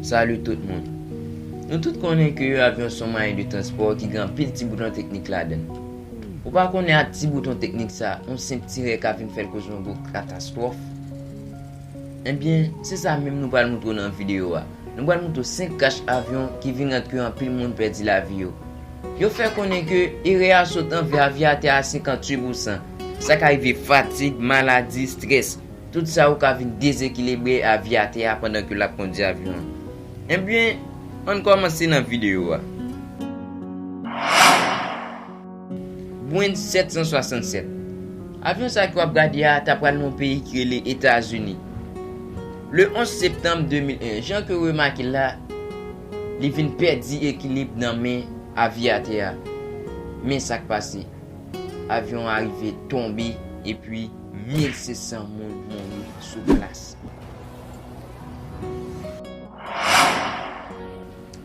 Salut tout moun Nou tout konnen ke yon avyon son mwayen de transpò ki gen anpil ti bouton teknik ladan l. Ou pa konnen ak ti bouton teknik sa yon senp ti rè ka vin fè l koz yon gwo katastwòf? Ebyen, se sa menm nou pral moutre w nan videyo a. Nou pral moutre w 5 krach avyon ki vin rant ke anpil moun pèdi lavi yo. Yo fè konnen ke erè a sot anvè avyatè a 58 pousan. Sa ka rive fatig, maladi, strès. Tout sa yo ka vin dezekilebre avyatè a pandan ke l ap kondi avyon an. Ebyen, ann kòmanse nan videyo a. Boeing 767. Avyon sa ke wap gade a ta pral nan yon peyi ki rele Etazini. Le 11 septanm 2001, jan ke ou remake l la, li vin pèdi ekilib nan men aviyatè a. Men sa k pase, avyon an arive tonbe epi 1,600 moun mouri sou plas.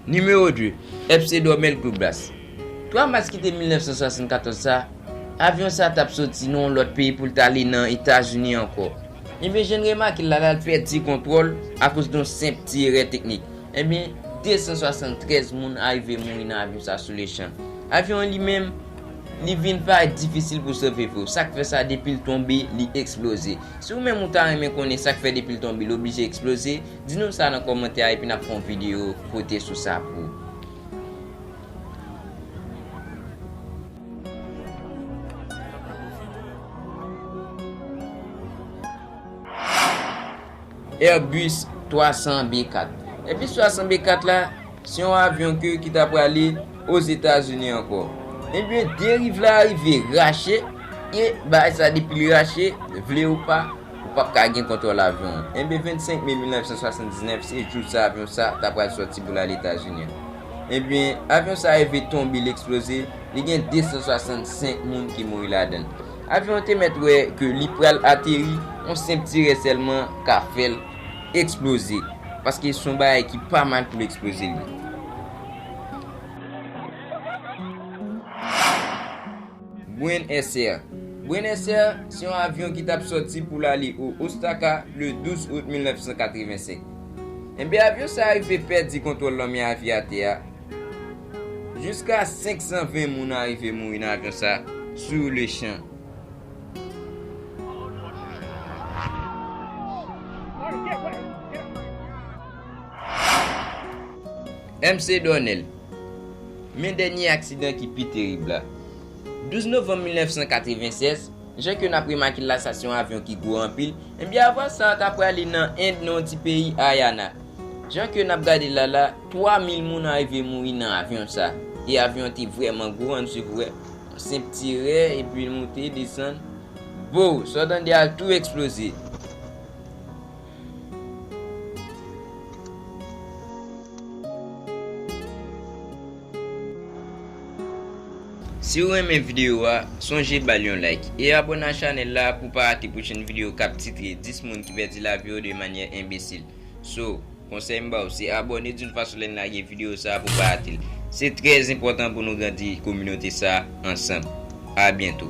Nimewo 2, FC Dormel Club Bas. 3 mas ki te 1974 sa, avyon sa t ap soti nan yon lòt peyi pou l t ale nan Etazini ankò. Ebyen jan n remake l la, l al pèdi kontwòl akoz don senp ti erè teknik. Ebyen 273 moun arive mouri nan avyon sa sou lechan. Avyon an li menm, li vin parèt difisil pou sove vre w. Sa k fè sa depi l tonbe, li eksploze. Si ou menm ou ta renmen konnen sa k fè depi l tonbe li oblije eksploze, Di nou sa nan kòmantè a epi n ap fè yon videyo pote sou sa pou ou. Airbus 300 B4 Airbus 300 B4 la, se yon avyon ke ki ta prale Ozetazini ankò. Ebyen deriv la rive rache, e bagay sa depi li rache, vle ou pa, Ou pap ka gen kontwòl avyon an. Enben 25 me 1979 se jou sa avyon sa ta pral sòti pou l ale Etazini an. Enben, avyon sa rive tonbe l eksploze, li gen 265 moun ki mouri ladan l. Avyon an te mèt wè ke li pral ateri, yon senp tirè sèlman ka fè l eksploze, paske s on bagay ki pa mal pou l eksploze li. Buen Air Buen Air se yon avyon ki t ap sòti pou l ale o Ostaka le 12 out 1985. Enben avyon sa a rive pèdi kontwòl lanmè a via tè a. Jiska 520 moun arive mouri nan avyon sa a sou le chan. MC Dornel Men dènye aksidan ki pi terib la. 12 novanm 1996, jan ke n ap remake l la sa se yon avyon ki gwo anpil, enbyen avyon sa a ta prale nan End nan yon ti peyi Haryana. Jan ke n ap gade l la la, 3 mil moun arive mouri nan avyon sa a. E avyon an te vrèman gwo an, misye voye yon senp tirè epi l moute, desann, bou! Sa w tande a tou eksploze. Si ou renmen video a, sonje bal yon like e abone a chanel la pou pa rate pwochen video kap titre 10 moun ki pèdi lavi yo de manyè enbesil. So, konsèy m baw se abone dun fason lèn lage video sa pou pa rate l. Se trèz enpòtan pou nou grandi kominote sa ansanm. A byento.